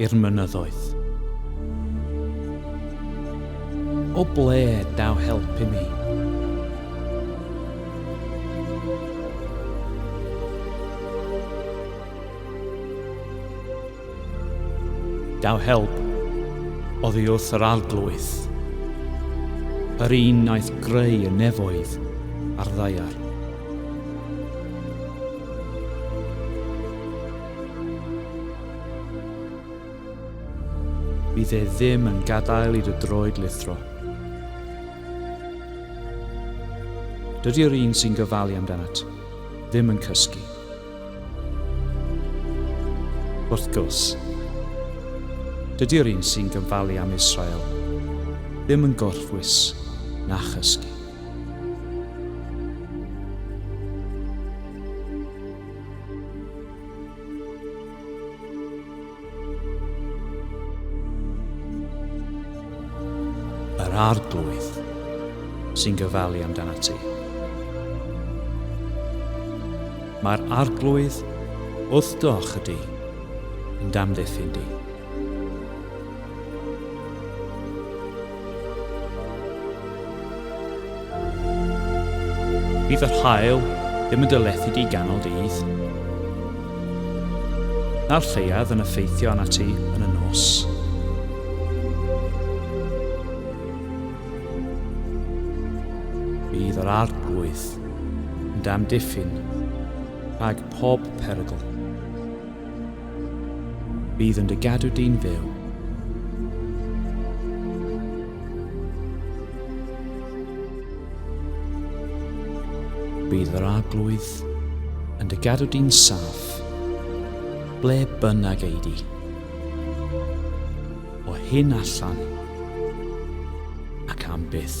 i'r mynyddoedd. O ble daw help i mi? Daw help oddi wrth yr arglwydd, yr un naeth greu y nefoedd a'r ddaiar. Bydd e ddim yn gadael i dy droed lithro. Dydy'r un sy'n gofalu amdanat ddim yn cysgu. Wrth gwrs, dydy'r un sy'n gofalu am Israel ddim yn gorffwys na chysgu. Yr Arglwydd sy'n gofalu amdanat ti. Mae'r Arglwydd wrth dy ochr di, yn damddiffyn di. Bydd yr haul ddim yn dylethu di ganol dydd. Na'r lleiad yn effeithio arna ti yn y nos. Bydd yr arglwydd yn damdiffyn rhag pob perygl. Bydd yn dy gadw di'n fyw. Bydd yr arglwydd yn dy gadw di'n saff, ble bynnag ei di. O hyn allan ac am byth.